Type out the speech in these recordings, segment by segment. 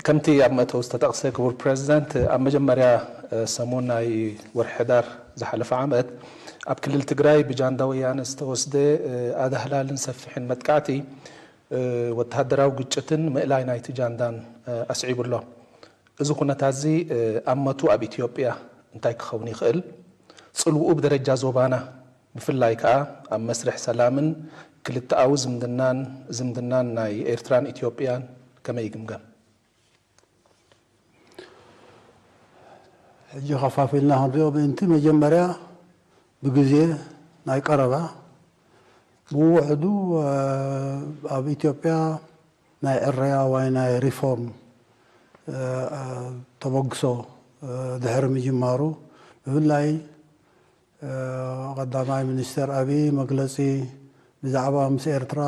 ከምቲ ኣብ መእተዊ ዝተጠቕሰ ክቡር ፕረዚደንት ኣብ መጀመርያ ሰሙን ናይ ወርሒ ሕዳር ዝሓለፈ ዓመት ኣብ ክልል ትግራይ ብጃንዳ ወያነ ዝተወስደ ኣዳህላልን ሰፊሕን መጥቃዕቲ ወተሃደራዊ ግጭትን ምእላይ ናይቲ ጃንዳን ኣስዒቡ ኣሎ። እዚ ኩነታትዚ ኣመቱ ኣብ ኢትዮጵያ እንታይ ክኸውን ይኽእል? ጽልውኡ ብደረጃ ዞባና ብፍላይ ከኣ ኣብ መስርሕ ሰላምን ክልተኣዊ ዝምድናን ዝምድናን ናይ ኤርትራን ኢትዮጵያን ከመይ ይግምገም? ሕጂ ከፋፊልና ክንሪኦ ምእንቲ መጀመርያ ብግዜ ናይ ቀረባ ብውሕዱ ኣብ ኢትዮጵያ፣ ናይ ዕረያ ዋይ ናይ ሪፎርም ተበግሶ ድሕሪ ምጅማሩ ብፍላይ ቐዳማይ ሚኒስተር ኣብዪ መግለጺ ብዛዕባ ምስ ኤርትራ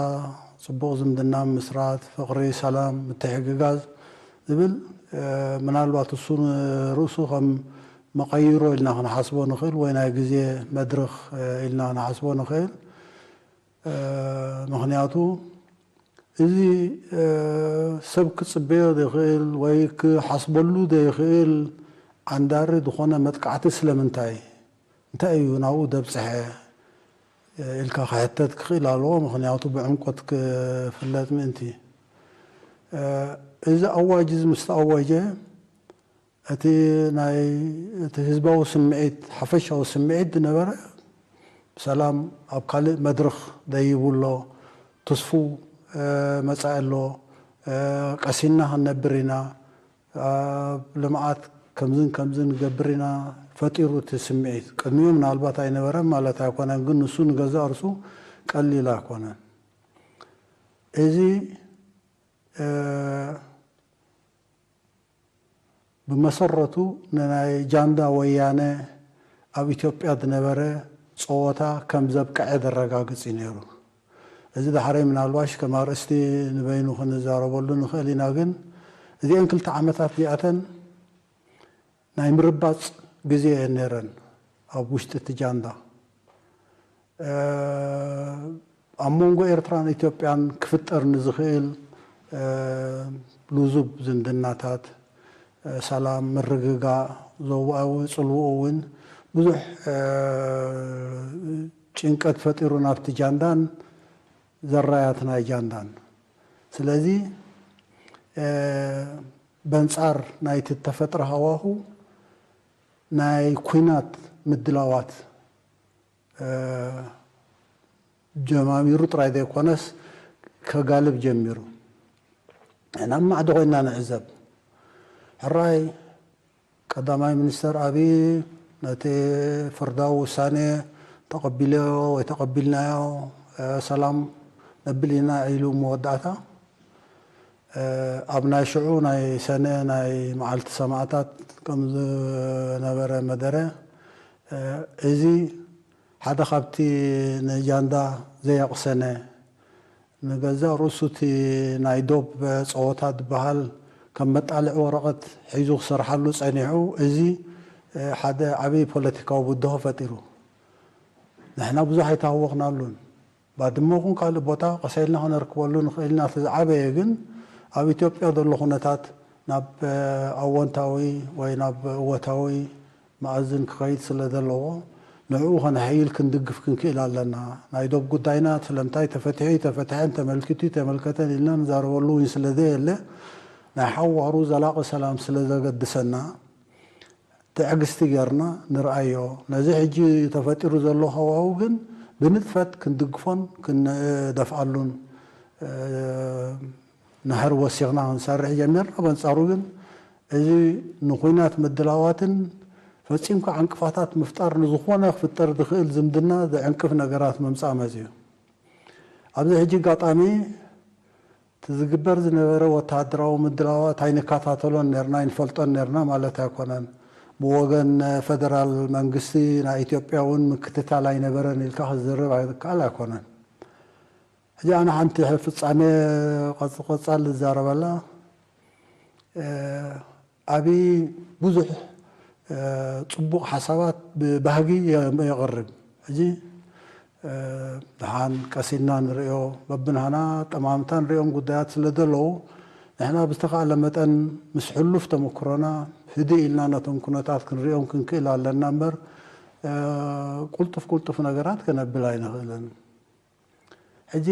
ጽቡቕ ዝምድና ምምስራት፣ ፍቕሪ፣ ሰላም፣ ምትሕግጋዝ ዝብል ምናልባት እሱ ንርእሱ ከም መቐይሮ ኢልና ክንሓስቦ ንኽእል ወይ ናይ ግዜ መድርኽ ኢልና ንሓስቦ ንኽእል። ምኽንያቱ እዚ ሰብ ክጽበዮ ዘይክእል ወይ ክሓስበሉ ዘይክእል ዓንዳሪ ዝኾነ መጥቃዕቲ ስለምንታይ፣ እንታይ እዩ ናብኡ ዘብጽሐ ኢልካ ክሕተት ክኽእል ኣለዎ፣ ምኽንያቱ ብዕምቆት ክፍለጥ ምእንቲ። እዚ ኣዋጅ እዚ ምስ ተኣወጀ፣ እቲ ናይ እቲ ህዝባዊ ስምዒት ሓፈሻዊ ስምዒት ዝነበረ ሰላም ኣብ ካልእ መድርኽ ደይቡ ኣሎ፣ ትስፉው መጻኢ ኣሎ፣ ቀሲንና ክንነብር ኢና፣ ኣብ ልምዓት ከምዝን ከምዝን ንገብር ኢና ፈጢሩ እቲ ስምዒት። ቅድሚኡ ምናልባት ኣይነበረን ማለት ኣይኮነን ግን ንሱ ንገዛእ ርእሱ ቀሊል ኣይኮነን። እዚ ብመሰረቱ ንናይ ጃንዳ ወያነ ኣብ ኢትዮጵያ ዝነበረ ጸወታ ከም ዘብቀዐ ዘረጋግጽ እዩ ነይሩ። እዚ ዳሕረይ ምናልባሽ ከም ኣርእስቲ ንበይኑ ክንዛረበሉ ንኽእል ኢና ግን እዚኤን ክልተ ዓመታት እዚኣተን ናይ ምርባጽ ግዜ እየን ነይረን ኣብ ውሽጢ እቲ ጃንዳ። ኣብ መንጎ ኤርትራን ኢትዮጵያን ክፍጠር ንዝኽእል ልዙብ ዝምድናታት፣ ሰላም፣ ምርግጋእ፣ ዞባኣዊ ጽልውኡ እውን ብዙሕ ጭንቀት ፈጢሩ ናብቲ ጃንዳን ዘራያት ናይ ጃንዳን። ስለዚ በንጻር ናይቲ እተፈጥረ ሃዋሁ ናይ ኩናት ምድላዋት ጀማሚሩ ጥራይ ዘይኮነስ ከጋልብ ጀሚሩ ን ኣብ ማዕዶ ኮይና ንዕዘብ ሕራይ ቀዳማይ ሚኒስተር ኣብይ ነቲ ፍርዳዊ ውሳኔ ተቐቢለዮ ወይ ተቐቢልናዮ ሰላም ነብል ኢና ኢሉ መወዳእታ ኣብ ናይ ሽዑ ናይ ሰነ ናይ መዓልቲ ሰማእታት ከም ዝነበረ መደረ ዒዚ ሓደ ካብቲ ንጃንዳ ዘየቕሰነ ንገዛእ ርእሱ እቲ ናይ ዶብ ጸወታ ዝበሃል ከም መጣልዒ ወረቐት ሒዙ ክሰርሓሉ ጸኒሑ እዚ ሓደ ዓቢ ፖለቲካዊ ብድሆ ፈጢሩ። ንሕና ብዙሕ ኣይተሃወኽናሉን። ባድመ ኹን ካልእ ቦታ ቀሰልና ከነርክበሉ ንኽእል ኢና እቲ ዝዓበየ ግን ኣብ ኢትዮጵያ ዘሎ ኩነታት ናብ ኣዎንታዊ ወይ ናብ እወታዊ መኣዝን ክኸይድ ስለ ዘለዎ ንዕኡ ከነሐይል ክንድግፍ ክንክእል ኣለና ናይ ዶብ ጉዳይና ስለምንታይ ተፈቲሑ እይተፈትሐን ተመልኪቱ እይተመልከተን ኢልና ንዛረበሉ እውን ስለ ዘየለ ናይ ሓዋሩ ዘላቒ ሰላም ስለ ዘገድሰና ትዕግስቲ ጌርና ንርኣዮ። ነዚ ሕጂ ተፈጢሩ ዘሎ ሃዋሁ ግን ብንጥፈት ክንድግፎን ክንደፍኣሉን ናህሪ ወሲኽና ክንሰርሕ ጀሚርና። በንጻሩ ግን እዚ ንኩናት ምድላዋትን ፈጺምካ ዕንቅፋታት ምፍጣር ንዝኾነ ክፍጠር ዝኽእል ዝምድና ዝዕንቅፍ ነገራት ምምጻእ መጺኡ። ኣብዚ ሕጂ ኣጋጣሚ እቲ ዝግበር ዝነበረ ወተሃደራዊ ምድላዋት ኣይንከታተሎን ኔርና፣ ኣይንፈልጦን ኔርና ማለት ኣይኮነን። ብወገን ፈደራል መንግስቲ ናይ ኢትዮጵያ እውን ምክትታል ኣይነበረን ኢልካ ክትዝርብ ዝከኣል ኣይኮነን። ሕጂ ኣነ ሓንቲ ፍጻሜ ቀጽሊ ቀጻሊ ዝዛረበላ፣ ኣብይ ብዙሕ ጽቡቕ ሓሳባት ብባህጊ የቕርብ ሕጂ ድሓን ቀስ ኢልና ንርእዮ በብናህና ኣጠማምታ ንርእዮም ጉዳያት ስለ ዘለዉ ንሕና ብዝተኻእለ መጠን ምስ ሕሉፍ ተመክሮና ህድእ ኢልና ነቶም ኩነታት ክንርእዮም ክንክእል ኣለና እምበር ቁልጡፍ ቁልጡፍ ነገራት ከነብል ኣይንኽእልን። ሕጂ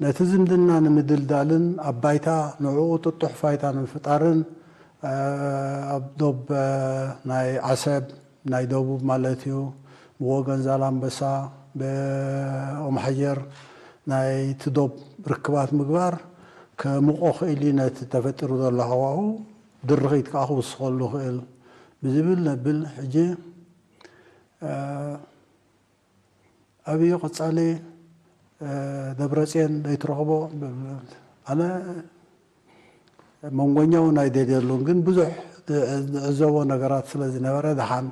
ነቲ ዝምድና ንምድልዳልን ኣብ ባይታ ንዕኡ ጥጡሕ ፋይታ ንምፍጣርን ኣብ ዶብ ናይ ዓሰብ፣ ናይ ደቡብ ማለት እዩ፣ ብወገን ዛላምበሳ፣ ብኦምሓጀር ናይቲ ዶብ ርክባት ምግባር ከሙቖ ክእል እዩ፣ ነቲ ተፈጢሩ ዘሎ ሃዋሁ ድርኺት ከኣ ክውስኸሉ ይኽእል ብዝብል ነብል ሕጂ። ኣብይ ቐፃሊ ደብረፅየን ለይትረኽቦ ኣነ መንጎኛ ውን ኣይደልየሉን ግን ብዙሕ ንዕዘቦ ነገራት ስለ ዝነበረ ደሓን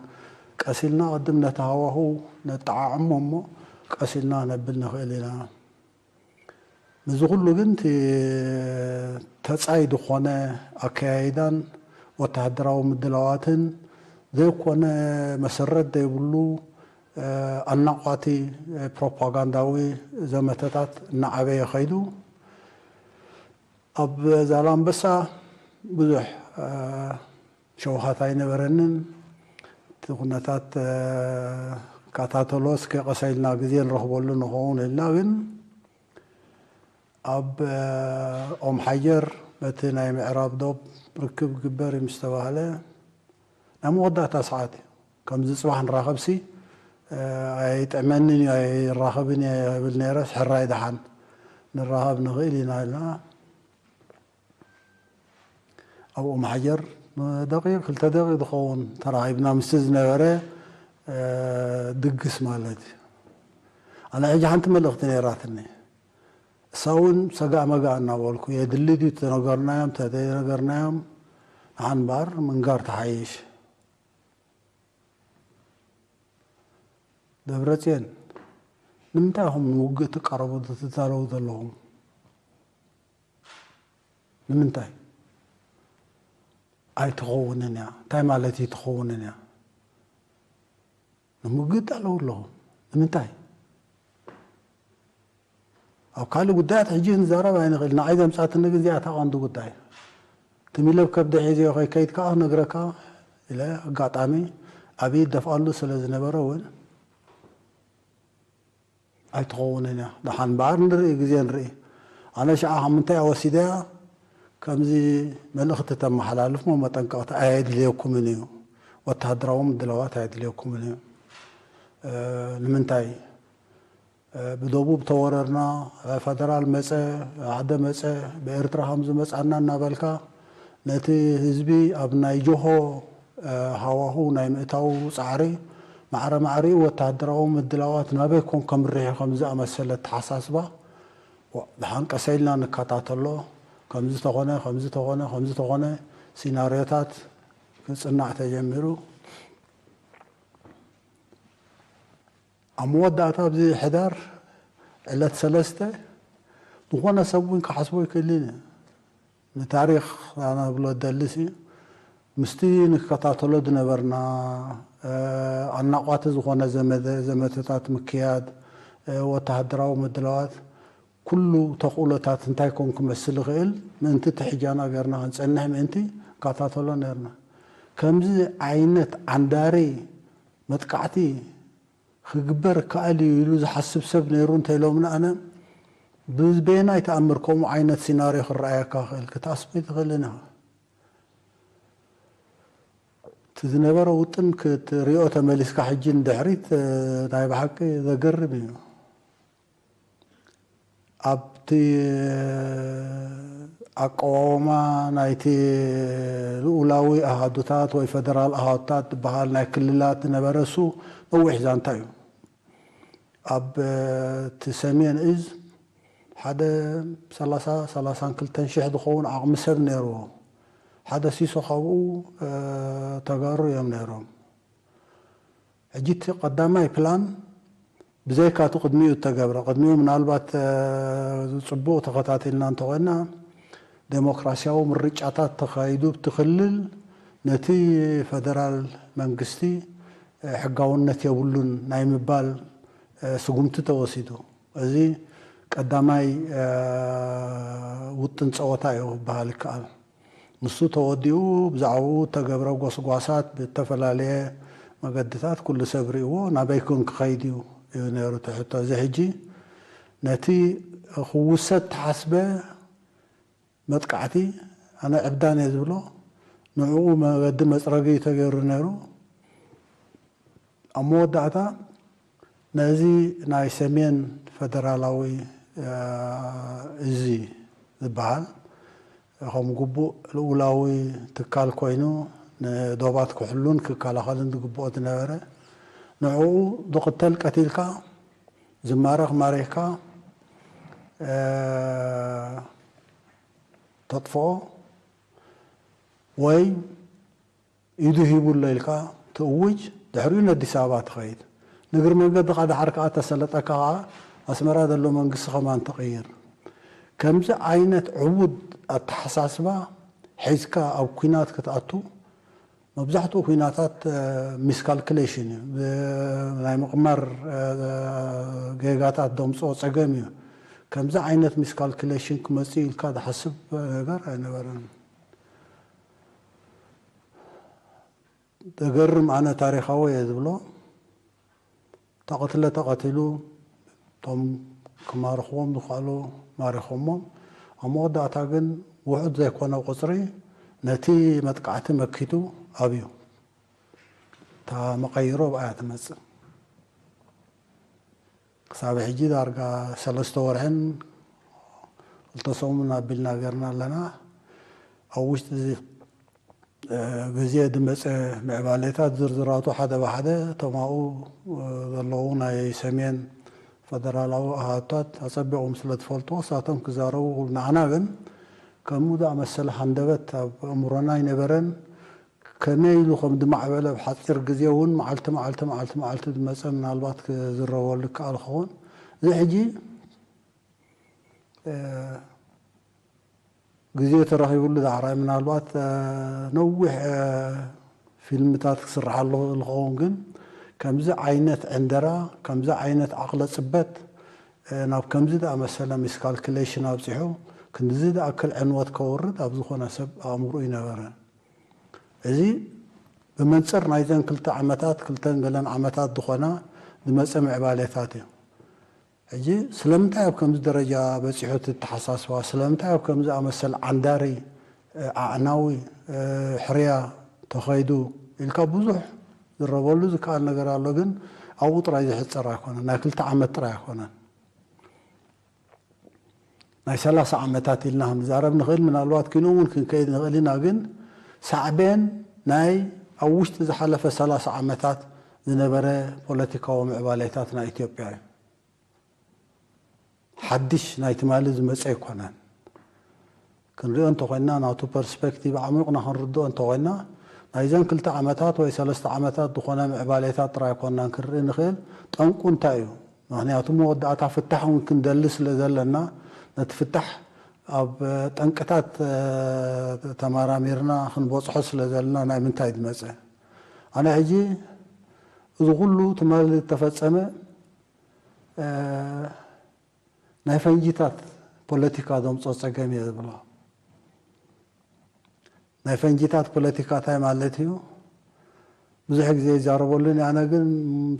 ቀስ ኢልና ቕድም ነቲ ሃዋህው ነጠዓዕሞ እሞ ቀስ ኢልና ነብል ንኽእል ኢና። ንዚ ኩሉ ግን እቲ ተጻይ ድኾነ ኣከያይዳን ወተሃደራዊ ምድላዋትን ዘይኮነ መሰረት ዘይብሉ ኣናቛቲ ፕሮፓጋንዳዊ ዘመተታት እናዓበየ ከይዱ ኣብ ዛላምበሳ ብዙሕ ሸውሃት ኣይነበረንን እቲ ኩነታት ክከታተሎ እስከ ቀስ ኢልና ግዜ ንረኽበሉ ንኸውን ኢልና ግን ኣብ ኦም ሓጀር በቲ ናይ ምዕራብ ዶብ ርክብ ክግበር እዩ ምስ ተባህለ ናይ መወዳእታ ሰዓት እዩ ከምዚ ጽባሕ ንራኸብሲ ኣይጥዕመንን እዩ ኣይራኸብን እየ እብል ነይረስ ሕራይ ደሓን ንራኸብ ንኽእል ኢና ኢልና ኣብ ኦምሓጀር ንደቂቅ ክልተ ደቂቅ ዝኸውን ተራኺብና ምስቲ ዝነበረ ድግስ ማለት እዩ። ኣነ ሕጂ ሓንቲ መልእኽቲ ነይራትኒ። እሳ እውን ሰጋእ መጋእ እናበልኩ የድሊ ድዩ ተነገርናዮም ተዘይነገርናዮም ንሓን እምበኣር ምንጋር ትሓይሽ። ደብረጽዮን ንምንታይ ኢኹም ንውግእ ትቃረቡ ትዛረቡ ዘለኹም? ንምንታይ ኣይትኸውንን እያ እንታይ ማለት እዩ ትኸውንን እያ ንምግጥ ኣለዉ ኣለኹ ንምንታይ ኣብ ካልእ ጉዳያት ሕጂ ንዛረብ ኣይንኽእል ንዓይ ዘምፃትኒ ግን እዚኣ ተቐንዲ ጉዳይ ትሚለብ ከብደ ሒዘ ከይከይድ ከዓ ነግረካ ኢለ ኣጋጣሚ ኣብይ ደፍኣሉ ስለ ዝነበረ እውን ኣይትኸውንን እያ ደሓን እምበኣር ንርኢ ግዜ ንርኢ። ኣነ ሽዓ ካብ ምንታይ እየ ወሲደያ ከምዚ መልእኽቲ ተመሓላልፍ እሞ መጠንቀቕታ ኣየድልየኩምን እዩ ወተሃደራዊ ምድላዋት ኣየድልየኩምን እዩ ንምንታይ ብደቡብ ተወረርና ፈደራል መጸ ኣደ መጸ ብኤርትራ ከምዝመጻና እናበልካ ነቲ ህዝቢ ኣብ ናይ ጆሆ ሃዋህው ናይ ምእታዉ ጻዕሪ፣ ማዕረ ማዕሪኡ ወተሃደራዊ ምድላዋት ናበይ ኮን ከምርሕ ከም ዝኣመሰለ ኣተሓሳስባ፣ ዋእ ደሓን ቀሰይ ኢልና ንከታተሎ፣ ከምዚ ተኾነ ከምዚ ተኾነ ከምዚ ተኾነ ሲናርዮታት ክጽናዕ ተጀሚሩ። ኣብ መወዳእታ ኣብዚ ሕዳር ዕለት ሰለስተ፣ ዝኾነ ሰብ ውን ክሓስቦ ኣይክእልን እዩ። ንታሪኽ ኣነብሎ እደሊሲ፣ ምስቲ ንከታተሎ ዝነበርና ኣናቋቲ ዝኾነ ዘመተ ዘመተታት ምክያድ፣ ወተሃደራዊ ምድላዋት፣ ኩሉ ተኽእሎታት እንታይ ኮን ክመስል ይኽእል ምእንቲ ትሕጃና ገርና ክንጸንሕ ምእንቲ ንከታተሎ ነርና። ከምዚ ዓይነት ዓንዳሪ መጥቃዕቲ ክግበር ይከኣል እዩ ኢሉ ዝሓስብ ሰብ ነይሩ እንተ ኢሎምኒ ኣነ ብበየናይ ተኣምር ከምኡ ዓይነት ሲናርዮ ክረኣየካ ይኽእል ክትኣስብ ኣይትኽእልን ኢኻ። እቲ ዝነበረ ውጥን ክትሪኦ ተመሊስካ ሕጂ ንድሕሪት ናይ ብሓቂ ዘገርም እዩ። ኣብቲ ኣቀዋውማ ናይቲ ልኡላዊ ኣሃዱታት ወይ ፈደራል ኣሃዱታት ዝበሃል ናይ ክልላት ዝነበረ እሱ ነዊሕ ዛንታ እዩ። ኣብቲ ሰሜን እዝ ሓደ ሰላሳ፣ ሰላሳን ክልተን ሽሕ ዝኸውን ዓቕሚ ሰብ ነይርዎ። ሓደ ሲሶ ካብኡ ተጋሩ እዮም ነይሮም። ሕጂ እቲ ቀዳማይ ፕላን ብዘይካ እቲ ቅድሚኡ እተገብረ፣ ቅድሚኡ ምናልባት ጽቡቕ ተኸታቲልና እንተኾይና ደሞክራሲያዊ ምርጫታት ተኻይዱ ኣብቲ ክልል ነቲ ፈደራል መንግስቲ ሕጋውነት የብሉን ናይ ምባል ስጉምቲ ተወሲዱ። እዚ ቀዳማይ ውጥን ጸወታ እዩ ክበሃል ይከኣል። ንሱ ተወዲኡ ብዛዕብኡ እተገብረ ጎስጓሳት ብእተፈላለየ መገድታት ኩሉ ሰብ ርእይዎ ናበይ ኮን ክኸይድ እዩ እዩ ነይሩ እቲ ሕቶ። እዚ ሕጂ ነቲ ክውሰድ እተሓስበ መጥቃዕቲ ኣነ ዕብዳን እየ ዝብሎ ንዕኡ መገዲ መጽረጊ እዩ ተገይሩ ነይሩ። ኣብ መወዳእታ ነዚ ናይ ሰሜን ፈደራላዊ እዚ ዝበሃል ከም ግቡእ ልኡላዊ ትካል ኮይኑ ንዶባት ክሕሉን ክከላኸልን ዝግብኦ ዝነበረ ንዕኡ ዝቕተል ቀቲልካ ዝማረኽ ማሪኽካ ተጥፍኦ ወይ ኢዱ ሂቡ ኣሎ ኢልካ ትእውጅ፣ ድሕሪኡ ነዲስ ኣበባ ትኸይድ። ንእግሪ መንገድኻ ደሓር ከኣ ተሰለጠካ ከኣ ኣስመራ ዘሎ መንግስቲ ከማን ትቕይር። ከምዚ ዓይነት ዕቡድ ኣተሓሳስባ ሒዝካ ኣብ ኩናት ክትኣቱ መብዛሕትኡ ኩናታት ሚስካልክሌሽን እዩ፣ ብናይ ምቕማር ጌጋታት ደምጽኦ ጸገም እዩ። ከምዚ ዓይነት ሚስካልክሌሽን ክመጽእ እዩ ኢልካ ዝሓስብ ነገር ኣይነበረን። ዘገርም ኣነ ታሪኻዊ እየ ዝብሎ ተቐትለ ተቐቲሉ እቶም ክማርኽዎም ዝኸእሉ ማሪኾሞም ኣብ መወዳእታ ግን ውሑድ ዘይኮነ ቁፅሪ ነቲ መጥቃዕቲ መኪቱ ኣብዩ እታ መቐይሮ ኣብኣ እያ ትመፅእ። ክሳብ ሕጂ ዳርጋ ሰለስተ ወርሕን ክልተ ሰሙን ኣቢልና ገርና ኣለና። ኣብ ውሽጢ እዚ ግዜ ድመጸ ምዕባሌታት ዝርዝራቱ ሓደ ብሓደ እቶም ኣብኡ ዘለዉ ናይ ሰሜን ፈደራላዊ ኣሃዱታት ኣጸቢቖም ስለ ትፈልጥዎ እሳቶም ክዛረቡ ንዓና ግን ከም ዝኣመሰለ ሃንደበት ኣብ ኣእምሮና ኣይነበረን ከመይ ኢሉ ከም ዝማዕበለ ኣብ ሓጺር ግዜ እውን መዓልቲ መዓልቲ መዓልቲ መዓልቲ ዝመጸ ምናልባት ክዝረበሉ ይከኣል ክኸውን እዚ ሕጂ ግዜ ተረኺብሉ ዳዕራይ ምናልባት ነዊሕ ፊልምታት ክስርሓሉ ይኽእል ክኸውን ግን ከምዚ ዓይነት ዕንደራ ከምዚ ዓይነት ዓቕለ ጽበት ናብ ከምዚ ዝኣመሰለ ሚስካልክሌሽን ኣብጺሑ ክንድዚ ዝኣክል ዕንወት ከውርድ ኣብ ዝኾነ ሰብ ኣእምሮ ኣይነበረን። እዚ ብመንጽር ናይዘን ክልተ ዓመታት ክልተን ገለን ዓመታት ዝኾና ዝመጸ ምዕባሌታት እዩ። ሕጂ ስለምንታይ ኣብ ከምዚ ደረጃ በጺሑ እቲ ኣተሓሳስባ? ስለምንታይ ኣብ ከምዚ ዝኣመሰል ዓንዳሪ፣ ኣዕናዊ፣ ሕርያ ተኸይዱ ኢልካ ብዙሕ ዝዝረበሉ ዝከኣል ነገር ኣሎ። ግን ኣብኡ ጥራይ ዝሕጸር ኣይኮነን። ናይ ክልተ ዓመት ጥራይ ኣይኮነን። ናይ ሰላሳ ዓመታት ኢልና ክንዛረብ ንኽእል ምናልባት ኪኖ እውን ክንከይድ ንኽእል ኢና ግን ሳዕቤን ናይ ኣብ ውሽጢ ዝሓለፈ ሰላሳ ዓመታት ዝነበረ ፖለቲካዊ ምዕባሌታት ናይ ኢትዮጵያ እዩ ሓድሽ ናይ ትማሊ ዝመፀ ኣይኮነን። ክንሪኦ እንተኾይንና ናቱ ፐርስፐክቲቭ ኣዕሚቑና ክንርድኦ እንተኾይንና ናይዘን ክልተ ዓመታት ወይ ሰለስተ ዓመታት ዝኾነ ምዕባሌታት ጥራይ ኣይኮንናን ክንርኢ ንኽእል ጠንቁ እንታይ እዩ ምኽንያቱ መወዳእታ ፍታሕ እውን ክንደሊ ስለዘለና ነቲ ፍታሕ ኣብ ጠንቅታት ተመራሚርና ክንበጽሖ ስለዘለና ናይ ምንታይ ዝመጸ ኣነ ሕጂ እዚ ኩሉ ትማሊ ዝተፈጸመ ናይ ፈንጂታት ፖለቲካ ዘምፅኦ ፀገም እየ ዝብሎ። ናይ ፈንጂታት ፖለቲካ እንታይ ማለት እዩ? ብዙሕ ግዜ ይዛረበሉን ኣነ ግን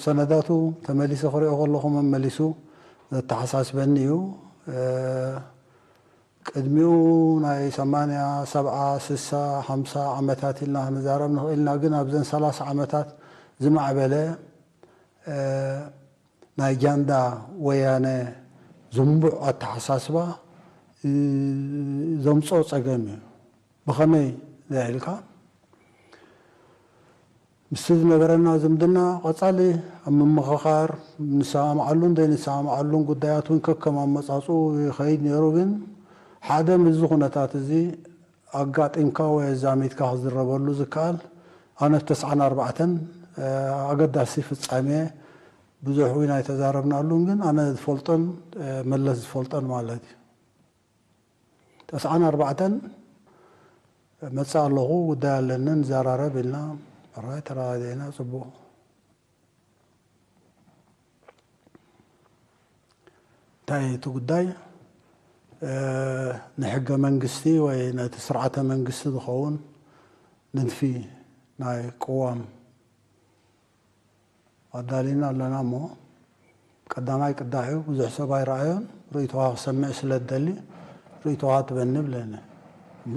ሰነዳቱ ተመሊሰ ክሪኦ ከለኹ መመሊሱ ዘተሓሳስበኒ እዩ። ቅድሚኡ ናይ ሰማንያ፣ ሰብዓ፣ ስሳ፣ ሓምሳ ዓመታት ኢልና ክንዛረብ ንኽእል ኢና። ግን ኣብዘን ሰላሳ ዓመታት ዝማዕበለ ናይ ጃንዳ ወያነ ዝንቡዕ ኣተሓሳስባ ዘምጽኦ ጸገም እዩ። ብኸመይ እንድሕር ኢልካ፣ ምስቲ ዝነበረና ዝምድና ቀጻሊ ኣብ ምምኽኻር፣ ንሰማምዓሉን ዘይንሰማምዓሉን ጉዳያት እውን ከከም ኣመጻጽኡ ይኸይድ ነይሩ። ግን ሓደ ምስዚ ኩነታት እዚ ኣጋጢምካ ወይ ኣዛሚድካ ክዝረበሉ ዝከኣል ኣነ ተስዓን ኣርባዕተን ኣገዳሲ ፍጻሜ ብዙሕ ውን ኣይተዛረብናሉን ግን ኣነ ዝፈልጦን መለስ ዝፈልጦን ማለት እዩ ተስዓን ኣርባዕተን እመጽእ ኣለኹ ጉዳይ ኣለኒ ንዘራረብ ኢልና ራይ ተረዳዲእና ጽቡቕ እንታይ እዩ እቲ ጉዳይ ንሕገ መንግስቲ ወይ ነቲ ስርዓተ መንግስቲ ዝኸውን ንድፊ ናይ ቅዋም ኣዳሊና ኣለና እሞ ቀዳማይ ቅዳሕ እዩ ብዙሕ ሰብ ኣይረኣዮን ርእይቶኻ ክሰምዕ ስለ ዝደሊ ርእይቶኻ ትበኒ ብለኒ እሞ